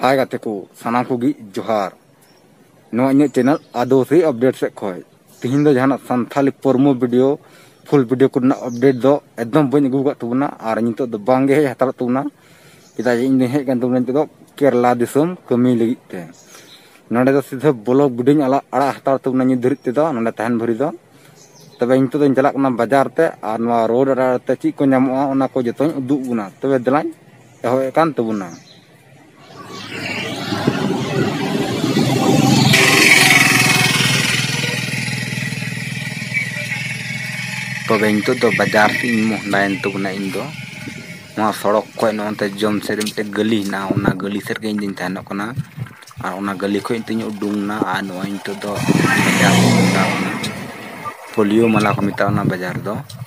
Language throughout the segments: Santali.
ᱦᱟᱭ ᱜᱟᱛᱮ ᱠᱚ ᱥᱟᱱᱟᱢ ᱠᱚᱜᱮ ᱡᱚᱦᱟᱨ ᱱᱚᱣᱟ ᱤᱧᱟᱹᱜ ᱪᱮᱱᱮᱞ ᱟᱫᱚᱥᱤ ᱟᱯᱰᱮᱴ ᱥᱮᱫ ᱠᱷᱚᱱ ᱛᱤᱦᱤᱧ ᱫᱚ ᱡᱟᱦᱟᱱᱟᱜ Santhali promo video full video ᱠᱚᱨᱮᱱᱟᱜ ᱟᱯᱰᱮᱴ ᱫᱚ ᱮᱠᱫᱚᱢ ᱵᱟᱹᱧ ᱟᱹᱜᱩ ᱟᱠᱟᱫ ᱛᱟᱵᱚᱱᱟ ᱟᱨ ᱱᱤᱛᱚᱜ ᱫᱚ ᱵᱟᱝᱜᱮ ᱦᱮᱡ ᱦᱟᱛᱟᱲᱚᱜ ᱛᱟᱵᱚᱱᱟ ᱪᱮᱫᱟᱜ ᱡᱮ ᱤᱧ ᱫᱚᱧ ᱦᱮᱡ ᱟᱠᱟᱱ ᱛᱟᱵᱚᱱᱟ ᱱᱤᱛᱚᱜ ᱫᱚ ᱠᱮᱨᱞᱟ ᱫᱤᱥᱚᱢ ᱠᱟᱹᱢᱤ ᱞᱟᱹᱜᱤᱫ ᱛᱮ ᱱᱚᱰᱮ ᱫᱚ ᱥᱤᱫᱷᱟᱹ ᱵᱞᱚᱜ ᱵᱷᱤᱰᱤᱭᱳᱧ ᱟᱲᱟᱜ ᱟᱲᱟᱜ ᱦᱟᱛᱟᱲ ᱛᱟᱵᱚᱱᱟ ᱱᱤᱛ ᱫᱷᱟᱹᱨᱤᱡ ᱛᱮᱫᱚ ᱱᱚᱰᱮ ᱛᱟᱦᱮᱱ ᱵᱷᱟᱹᱨᱤ ᱫᱚ ᱛᱚᱵᱮ ᱱᱤᱛᱚᱜ ᱫᱚᱧ ᱪᱟᱞᱟᱜ ᱠᱟᱱᱟ ᱵᱟᱡᱟᱨ ᱛᱮ ᱟᱨ ᱱᱚᱣᱟ ᱨᱳᱰ ᱟᱲᱮ ᱟᱲᱮᱛᱮ ᱪᱮᱫ ᱠᱚ ᱧᱟᱢᱚᱜᱼᱟ ᱚᱱᱟ ᱠᱚ ᱡᱚᱛᱚᱧ ᱩᱫᱩᱜ ᱵᱚᱱᱟ ᱛᱚᱵᱮ ᱫᱮᱞᱟᱧ ᱮᱦᱚᱵ ᱠᱟᱱ ᱛᱟᱵᱚᱱᱟ ᱛᱚᱵᱮ ᱱᱤᱛᱚᱜ ᱫᱚ ᱵᱟᱡᱟᱨ ᱥᱮᱫ ᱤᱧ ᱢᱚᱦᱰᱟᱭᱮᱱ ᱛᱟᱵᱚᱱᱟ ᱤᱧ ᱫᱚ ᱱᱚᱣᱟ ᱥᱚᱲᱚᱠ ᱠᱷᱚᱡ ᱱᱚᱛᱮ ᱡᱚᱢ ᱥᱮᱫ ᱨᱮ ᱢᱤᱫᱴᱮᱡ ᱜᱟᱹᱞᱤ ᱦᱮᱱᱟᱜᱼᱟ ᱚᱱᱟ ᱜᱟᱹᱞᱤ ᱥᱮᱫ ᱨᱮᱜᱮ ᱤᱧ ᱫᱚᱧ ᱛᱟᱦᱮᱱᱚᱜ ᱠᱟᱱᱟ ᱟᱨ ᱚᱱᱟ ᱜᱟᱹᱞᱤ ᱠᱷᱚᱡ ᱱᱤᱛᱚᱜ ᱤᱧ ᱩᱰᱩᱝ ᱮᱱᱟ ᱟᱨ ᱱᱚᱜᱼᱚᱭ ᱱᱤᱛᱚᱜ ᱫᱚ ᱯᱳᱞᱤᱭᱳ ᱢᱟᱞᱟ ᱠᱚ ᱢᱮᱛᱟᱜᱼᱟ ᱚᱱᱟ ᱵᱟᱡᱟᱨ ᱫᱚ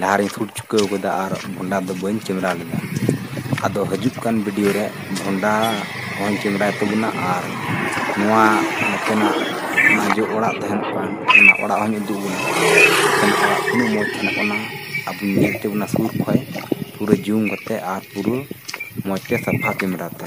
ᱞᱟᱦᱟ ᱨᱮᱧ ᱥᱩᱴ ᱪᱩᱠᱟᱹᱣ ᱠᱟᱫᱟ ᱟᱨ ᱵᱷᱚᱱᱰᱟ ᱫᱚ ᱵᱟᱹᱧ ᱠᱮᱢᱮᱨᱟ ᱞᱮᱫᱟ ᱟᱫᱚ ᱦᱟᱹᱡᱩᱜ ᱠᱟᱱ ᱵᱤᱰᱤᱭᱳ ᱨᱮ ᱵᱷᱚᱱᱰᱟ ᱦᱚᱸᱧ ᱠᱮᱢᱮᱨᱟᱭ ᱛᱟᱵᱚᱱᱟ ᱟᱨ ᱱᱚᱣᱟ ᱱᱚᱛᱮᱱᱟᱜ ᱚᱱᱟ ᱡᱮ ᱚᱲᱟᱜ ᱛᱟᱦᱮᱱ ᱠᱟᱱ ᱚᱱᱟ ᱚᱲᱟᱜ ᱦᱚᱸᱧ ᱩᱫᱩᱜ ᱟᱵᱚᱱᱟ ᱚᱱᱟ ᱚᱲᱟᱜ ᱛᱤᱱᱟᱹᱜ ᱢᱚᱡᱽ ᱛᱟᱦᱮᱱᱚᱜ ᱠᱟᱱᱟ ᱟᱵᱚ ᱧᱮᱞ ᱪᱚ ᱵᱚᱱᱟ ᱥᱩᱨ ᱠᱷᱚᱡ ᱯᱩᱨᱟᱹ ᱡᱩᱢ ᱠᱟᱛᱮ ᱟᱨ ᱯᱩᱨᱟᱹ ᱢᱚᱡᱽ ᱛᱮ ᱥᱟᱯᱷᱟ ᱠᱮᱢᱮᱨᱟ ᱛᱮ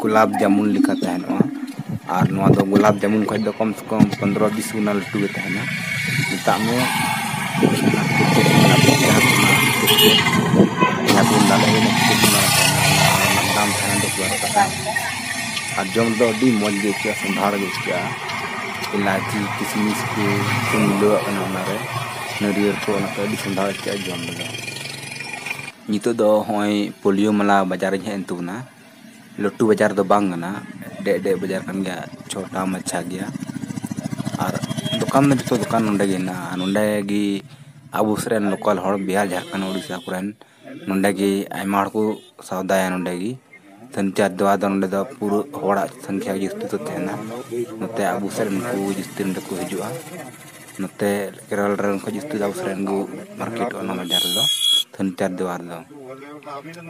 ᱜᱳᱞᱟᱯ ᱡᱟᱢᱩᱱ ᱞᱮᱠᱟ ᱛᱟᱦᱮᱱᱚᱜᱼᱟ ᱟᱨ ᱱᱚᱣᱟ ᱫᱚ ᱜᱳᱞᱟᱯ ᱡᱟᱢᱩᱱ ᱠᱷᱚᱱ ᱫᱚ ᱠᱚᱢ ᱥᱮ ᱠᱚᱢ ᱯᱚᱱᱨᱚ ᱵᱤᱥ ᱜᱩᱱᱟ ᱞᱟᱹᱴᱩ ᱜᱮ ᱛᱟᱦᱮᱱᱟ ᱢᱮᱛᱟᱜ ᱢᱮ ᱟᱨ ᱡᱚᱢ ᱫᱚ ᱟᱹᱰᱤ ᱢᱚᱡᱽ ᱜᱮ ᱟᱹᱭᱠᱟᱹᱜᱼᱟ ᱥᱚᱸᱫᱷᱟᱲ ᱜᱮ ᱟᱹᱭᱠᱟᱹᱜᱼᱟ ᱤᱞᱟᱭᱪᱤ ᱠᱤᱥᱢᱤᱥ ᱠᱚ ᱢᱤᱞᱟᱹᱣᱟᱜ ᱠᱟᱱᱟ ᱚᱱᱟᱨᱮ ᱱᱟᱹᱨᱭᱟᱹᱲ ᱠᱚ ᱚᱱᱟᱛᱮ ᱟᱹᱰᱤ ᱥᱚᱸᱫᱷᱟᱲ ᱟᱹᱭᱠᱟᱹᱜᱼᱟ ᱡᱚᱢ ᱨᱮᱫᱚ ᱱᱤᱛᱚᱜ ᱫᱚ ᱦᱚᱸᱜᱼᱚᱭ ᱯᱳᱞᱤᱭᱳ ᱢᱟᱞᱟ ᱵᱟᱡᱟᱨᱤᱧ ᱦᱮᱡ ᱮᱱ ᱛᱟᱵᱚᱱᱟ ᱞᱟᱹᱴᱩ ᱵᱟᱡᱟᱨ ᱫᱚ ᱵᱟᱝ ᱠᱟᱱᱟ ᱰᱮᱜ ᱰᱮᱜ ᱵᱟᱡᱟᱨ ᱠᱟᱱ ᱜᱮᱭᱟ ᱪᱷᱳᱴᱟ ᱢᱟᱪᱷᱟ ᱜᱮᱭᱟ ᱟᱨ ᱫᱚᱠᱟᱱ ᱫᱚ ᱡᱚᱛᱚ ᱫᱚᱠᱟᱱ ᱱᱚᱰᱮ ᱜᱮ ᱦᱮᱱᱟᱜᱼᱟ ᱟᱨ ᱱᱚᱰᱮ ᱜᱮ ᱟᱵᱚ ᱥᱮᱫ ᱨᱮᱱ ᱞᱳᱠᱟᱞ ᱦᱚᱲ ᱵᱤᱦᱟᱨ ᱡᱷᱟᱲᱠᱷᱚᱸᱰ ᱩᱲᱤᱥᱥᱟ ᱠᱚᱨᱮᱱ ᱱᱚᱰᱮ ᱜᱮ ᱟᱭᱢᱟ ᱦᱚᱲ ᱠᱚ ᱥᱚᱣᱫᱟᱭᱟ ᱱᱚᱰᱮ ᱜᱮ ᱥᱟᱱᱛᱟᱲ ᱫᱚ ᱟᱫᱚ ᱱᱚᱸᱰᱮ ᱫᱚ ᱯᱩᱨᱟᱹ ᱦᱚᱲᱟᱜ ᱥᱚᱝᱠᱷᱟ ᱜᱮ ᱡᱟᱹᱥᱛᱤ ᱫᱚ ᱛᱟᱦᱮᱱᱟ ᱱᱚᱛᱮ ᱟᱵᱚ ᱥᱮᱫ ᱨᱮᱱ ᱠᱚ ᱡᱟᱹᱥᱛᱤ ᱱᱚᱸᱰᱮ ᱠᱚ ᱦᱤᱡᱩᱜᱼᱟ ᱱᱚᱛᱮ ᱠᱮᱨᱚᱞ ᱨᱮᱱ ᱠᱚ ᱡᱟᱹᱥᱛᱤ ᱫᱚ ᱟᱵᱚ ᱥᱮᱫ ᱨᱮᱱ ᱠᱚ ᱢᱟᱨᱠᱮᱴᱚᱜᱼᱟ ᱱᱚᱣᱟ ᱵᱟᱡᱟᱨ ᱨᱮᱫᱚ ᱥᱟᱱᱛᱟᱲ ᱫᱚ ᱟᱨ ᱫᱚ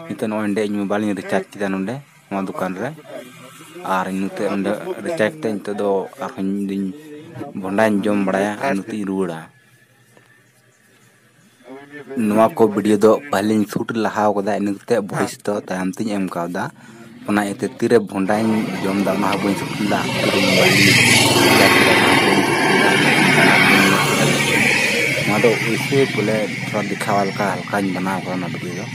ᱱᱤᱛᱚᱜ ᱱᱚᱜᱼᱚᱭ ᱱᱚᱸᱰᱮ ᱤᱧ ᱢᱳᱵᱟᱭᱤᱞ ᱤᱧ ᱨᱤᱪᱟᱨᱡᱽ ᱠᱮᱫᱟ ᱱᱚᱸᱰᱮ ᱱᱚᱣᱟ ᱫᱚᱠᱟᱱ ᱨᱮ ᱟᱨ ᱱᱤᱛᱚᱜ ᱱᱚᱸᱰᱮ ᱨᱤᱪᱟᱨᱡᱽ ᱠᱟᱛᱮᱫ ᱱᱤᱛᱚᱜ ᱫᱚ ᱟᱨᱦᱚᱸ ᱤᱧ ᱫᱩᱧ ᱵᱷᱚᱸᱰᱟᱧ ᱡᱚᱢ ᱵᱟᱲᱟᱭᱟ ᱟᱨ ᱱᱚᱛᱮᱧ ᱨᱩᱣᱟᱹᱲᱟ ᱱᱚᱣᱟ ᱠᱚ ᱵᱷᱤᱰᱭᱳ ᱫᱚ ᱯᱟᱹᱦᱤᱞᱤᱧ ᱥᱩᱴ ᱞᱟᱦᱟ ᱟᱠᱟᱫᱟ ᱤᱱᱟᱹ ᱠᱟᱛᱮ ᱵᱷᱚᱭᱮᱥ ᱫᱚ ᱛᱟᱭᱚᱢ ᱛᱤᱧ ᱮᱢ ᱠᱟᱣᱫᱟ ᱚᱱᱟ ᱤᱭᱟᱹᱛᱮ ᱛᱤᱨᱮ ᱵᱷᱚᱸᱰᱟᱧ ᱡᱚᱢ ᱮᱫᱟ ᱚᱱᱟ ᱦᱚᱸ ᱵᱟᱹᱧ ᱥᱩᱴ ᱞᱮᱫᱟ ᱱᱚᱣᱟ ᱫᱚ ᱮᱭᱥᱮ ᱵᱚᱞᱮ ᱛᱷᱚᱲᱟ ᱫᱮᱠᱷᱟᱣᱟ ᱞᱮᱠᱟ ᱦᱟᱞᱠᱟᱧ ᱵᱮᱱᱟᱣ ᱟᱠᱟᱫᱟ ᱚᱱᱟ ᱵᱷᱤᱰᱭᱳ ᱫᱚ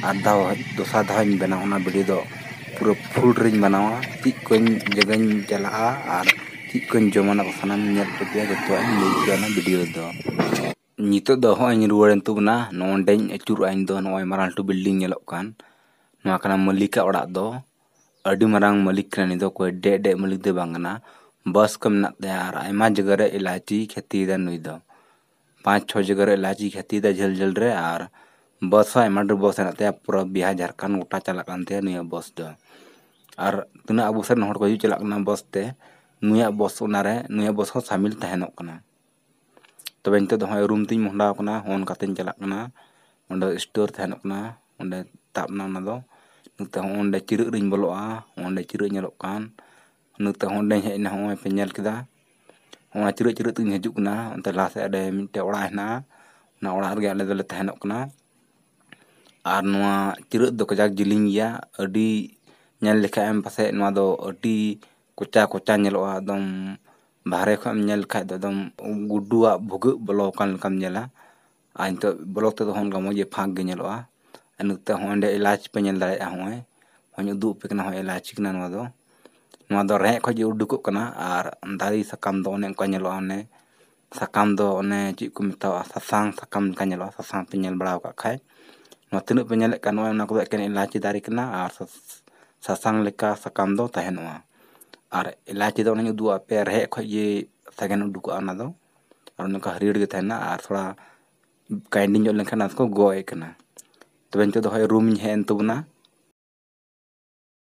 ᱟᱨ ᱫᱷᱟᱣ ᱫᱚᱥᱟᱨ ᱫᱷᱟᱣ ᱤᱧ ᱵᱮᱱᱟᱣᱟ ᱚᱱᱟ ᱵᱷᱤᱰᱭᱳ ᱫᱚ ᱯᱩᱨᱟᱹ ᱯᱷᱩᱞ ᱨᱤᱧ ᱵᱮᱱᱟᱣᱟ ᱪᱮᱫ ᱠᱚᱧ ᱡᱟᱭᱜᱟᱧ ᱪᱟᱞᱟᱜᱼᱟ ᱟᱨ ᱪᱮᱫ ᱠᱚᱧ ᱡᱚᱢᱟ ᱚᱱᱟ ᱠᱚ ᱥᱟᱱᱟᱢ ᱧᱮᱞ ᱦᱚᱪᱚ ᱯᱮᱭᱟ ᱡᱚᱛᱚᱣᱟᱜ ᱤᱧ ᱞᱟᱹᱭ ᱟᱯᱮᱭᱟ ᱚᱱᱟ ᱵᱷᱤᱰᱤᱭᱳ ᱨᱮᱫᱚ ᱱᱤᱛᱚᱜ ᱫᱚ ᱦᱚᱸᱜᱼᱚᱭ ᱤᱧ ᱨᱩᱣᱟᱹᱲᱮᱱ ᱛᱟᱵᱚᱱᱟ ᱱᱚᱸᱰᱮᱧ ᱟᱹᱪᱩᱨᱚᱜᱼᱟ ᱤᱧ ᱫᱚ ᱱᱚᱜᱼᱚᱭ ᱢᱟᱨᱟᱝ ᱞᱟᱹᱴᱩ ᱵᱤᱞᱰᱤᱝ ᱧᱮᱞᱚᱜ ᱠᱟᱱ ᱱᱚᱣᱟ ᱠᱟᱱᱟ ᱢᱟᱹᱞᱤᱠᱟᱜ ᱚᱲᱟᱜ ᱫᱚ ᱟᱹᱰᱤ ᱢᱟᱨᱟᱝ ᱢᱟᱹᱞᱤᱠ ᱠᱟᱱᱟᱭ ᱱᱩᱭ ᱫᱚ ᱚᱠᱚᱭ ᱰᱮᱜ ᱰᱮᱜ ᱢᱟᱹᱞᱤᱠ ᱫᱚ ᱵᱟᱝ ᱠᱟᱱᱟ ᱵᱟᱥ ᱠᱚ ᱢᱮᱱᱟᱜ ᱛᱟᱭᱟ ᱟᱨ ᱟᱭᱢᱟ ᱡᱟᱭᱜᱟ ᱨᱮ ᱮᱞᱟᱭᱪᱤᱭ ᱠᱷᱮᱛᱤᱭᱮᱫᱟ ᱱᱩᱭ ᱫᱚ ᱯᱟᱸᱪ ᱪᱷᱚ ᱡᱟᱭᱜᱟ ᱨᱮ ᱮᱞᱟᱪᱤ ᱠᱷᱟᱹᱛᱤᱨ ᱛᱮ ᱡᱷᱟᱹᱞ ᱡᱷᱟᱹᱞ ᱨᱮ ᱟᱨ ᱵᱟᱥ ᱦᱚᱸ ᱟᱭᱢᱟ ᱰᱷᱮᱨ ᱵᱟᱥ ᱦᱮᱱᱟᱜ ᱛᱟᱭᱟ ᱯᱩᱨᱟᱹ ᱵᱤᱦᱟᱨ ᱡᱷᱟᱲᱠᱷᱚᱸᱰ ᱜᱚᱴᱟ ᱪᱟᱞᱟᱜ ᱠᱟᱱ ᱛᱟᱭᱟ ᱱᱤᱭᱟᱹ ᱵᱟᱥ ᱫᱚ ᱟᱨ ᱛᱤᱱᱟᱹᱜ ᱟᱵᱚ ᱥᱮᱫ ᱨᱮᱱ ᱦᱚᱲ ᱠᱚ ᱦᱤᱡᱩᱜ ᱪᱟᱞᱟᱜ ᱠᱟᱱᱟ ᱵᱟᱥ ᱛᱮ ᱱᱩᱭᱟᱜ ᱵᱟᱥ ᱚᱱᱟᱨᱮ ᱱᱩᱭᱟᱜ ᱵᱟᱥ ᱦᱚᱸ ᱥᱟᱹᱢᱤᱞ ᱛᱟᱦᱮᱱᱚᱜ ᱠᱟᱱᱟ ᱛᱚᱵᱮ ᱱᱤᱛᱚᱜ ᱫᱚ ᱱᱚᱜᱼᱚᱭ ᱨᱩᱢ ᱛᱤᱧ ᱢᱚᱦᱰᱟ ᱟᱠᱟᱱᱟ ᱱᱚᱜᱼᱚ ᱱᱚᱝᱠᱟ ᱛᱤᱧ ᱪᱟᱞᱟᱜ ᱠᱟᱱᱟ ᱚᱸᱰᱮ ᱥᱴᱳᱨ ᱛᱟᱦᱮᱱᱚᱜ ᱠᱟᱱᱟ ᱚᱸᱰᱮ ᱛᱟᱵ ᱮᱱᱟ ᱚᱱᱟ ᱫᱚ ᱱᱤᱛᱚᱜ ᱦᱚᱸ ᱚᱸᱰᱮ ᱪᱤᱨᱟᱹᱜ ᱨᱤᱧ ᱵᱚᱞᱚᱜᱼᱟ ᱚᱸᱰᱮ ᱪᱤᱨᱟᱹᱜ ᱧᱮᱞᱚᱜ ᱠᱟᱱ ᱱᱤᱛᱚᱜ ᱦᱚᱸ ᱚᱸᱰᱮᱧ ᱦᱮᱡ ᱮᱱᱟ ᱱᱚᱜᱼᱚᱭ ᱯᱮ ᱧᱮᱞ ᱠᱮᱫᱟ ᱱᱚᱣᱟ ᱪᱤᱨᱟᱹᱜ ᱪᱤᱨᱟᱹᱜ ᱛᱮᱜᱮᱧ ᱦᱤᱡᱩᱜ ᱠᱟᱱᱟ ᱚᱱᱛᱮ ᱞᱟᱦᱟ ᱥᱮᱫ ᱨᱮ ᱢᱤᱫᱴᱮᱱ ᱚᱲᱟᱜ ᱦᱮᱱᱟᱜᱼᱟ ᱚᱱᱟ ᱚᱲᱟᱜ ᱨᱮᱜᱮ ᱟᱞᱮ ᱫᱚᱞᱮ ᱛᱟᱦᱮᱱᱚᱜ ᱠᱟᱱᱟ ᱟᱨ ᱱᱚᱣᱟ ᱪᱤᱨᱟᱹᱜ ᱫᱚ ᱠᱟᱡᱟᱠ ᱡᱤᱞᱤᱧ ᱜᱮᱭᱟ ᱟᱹᱰᱤ ᱧᱮᱞ ᱞᱮᱠᱷᱟᱡ ᱮᱢ ᱯᱟᱥᱮᱡ ᱱᱚᱣᱟ ᱫᱚ ᱟᱹᱰᱤ ᱠᱚᱪᱟ ᱠᱚᱪᱟ ᱧᱮᱞᱚᱜᱼᱟ ᱮᱠᱫᱚᱢ ᱵᱟᱦᱨᱮ ᱠᱷᱚᱡ ᱮᱢ ᱧᱮᱞ ᱞᱮᱠᱷᱟᱡ ᱫᱚ ᱮᱠᱫᱚᱢ ᱜᱩᱰᱩᱣᱟᱜ ᱵᱷᱩᱜᱟᱹᱜ ᱵᱚᱞᱚ ᱟᱠᱟᱱ ᱞᱮᱠᱟᱢ ᱧᱮᱞᱟ ᱟᱨ ᱱᱤᱛᱚᱜ ᱵᱞᱚᱠ ᱛᱮᱫᱚ ᱚᱱᱠᱟ ᱢᱚᱡᱽ ᱜᱮ ᱯᱷᱟᱸᱠ ᱜᱮ ᱧᱮᱞᱚᱜᱼᱟ ᱟᱨ ᱱᱚᱛᱮ ᱦᱚᱸ ᱚᱸᱰᱮ ᱮᱞᱟᱪ ᱯᱮ ᱧᱮᱞ ᱫᱟᱲᱮᱭᱟᱜᱼᱟ ᱱᱚᱜᱼᱚᱭ ᱦᱚᱧ ᱩᱫᱩᱜ ᱟᱯᱮ ᱠᱟᱱᱟ ᱱᱚᱜᱼᱚᱭ ᱮᱞᱟᱪ ᱠᱟᱱᱟ ᱱᱚᱣᱟ ᱫᱚ ᱱᱚᱣᱟ ᱫᱚ ᱨᱮᱦᱮᱫ ᱠᱷᱚᱱ ᱜᱮ ᱩᱰᱩᱠᱚᱜ ᱠᱟᱱᱟ ᱟᱨ ᱫᱟᱨᱮ ᱥᱟᱠᱟᱢ ᱫᱚ ᱚᱱᱮ ᱚᱱᱠᱟ ᱧᱮᱞᱚᱜᱼᱟ ᱚᱱᱮ ᱥᱟᱠᱟᱢ ᱫᱚ ᱚᱱᱮ ᱪᱮᱫ ᱠᱚ ᱢᱮᱛᱟᱣᱟᱜᱼᱟ ᱥᱟᱥᱟᱝ ᱥᱟᱠᱟᱢ ᱞᱮᱠᱟ ᱧᱮᱞᱚᱜᱼᱟ ᱥᱟᱥᱟᱝ ᱯᱮ ᱧᱮᱞ ᱵᱟᱲᱟ ᱟᱠᱟᱫ ᱠᱷᱟᱱ ᱱᱚᱣᱟ ᱛᱤᱱᱟᱹᱜ ᱯᱮ ᱧᱮᱞᱮᱫ ᱠᱟᱱ ᱱᱚᱜᱼᱚᱭ ᱱᱚᱣᱟ ᱠᱚᱫᱚ ᱮᱠᱮᱱ ᱮᱞᱟᱪ ᱫᱟᱨᱮ ᱠᱟᱱᱟ ᱟᱨ ᱥᱟᱥᱟᱝ ᱞᱮᱠᱟ ᱥᱟᱠᱟᱢ ᱫᱚ ᱛᱟᱦᱮᱱᱚᱜᱼᱟ ᱟᱨ ᱮᱞᱟᱪ ᱫᱚ ᱚᱱᱮᱧ ᱩᱫᱩᱜ ᱟᱫ ᱯᱮᱭᱟ ᱨᱮᱦᱮᱫ ᱠᱷᱚᱱ ᱜᱮ ᱥᱟᱜᱮᱱ ᱩᱰᱩᱠᱚᱜᱼᱟ ᱚᱱᱟ ᱫᱚ ᱟᱨ ᱱᱚᱝᱠᱟ ᱦᱟᱹᱨᱭᱟᱹᱲ ᱜᱮ ᱛᱟᱦᱮᱱᱟ ᱟᱨ ᱛᱷᱚᱲᱟ ᱠᱟᱭᱮᱱᱰᱤ ᱧᱚᱜ ᱞᱮᱱᱠᱷᱟᱱ ᱟᱫᱚ ᱠᱚ ᱜᱚᱜ ᱮᱫ ᱠᱟᱱᱟ ᱛᱚᱵᱮ ᱱᱤᱛᱚᱜ ᱫᱚ ᱦᱚᱭ ᱨᱩᱢᱤᱧ ᱦᱮᱡ ᱮᱱ ᱛᱟᱵᱚᱱᱟ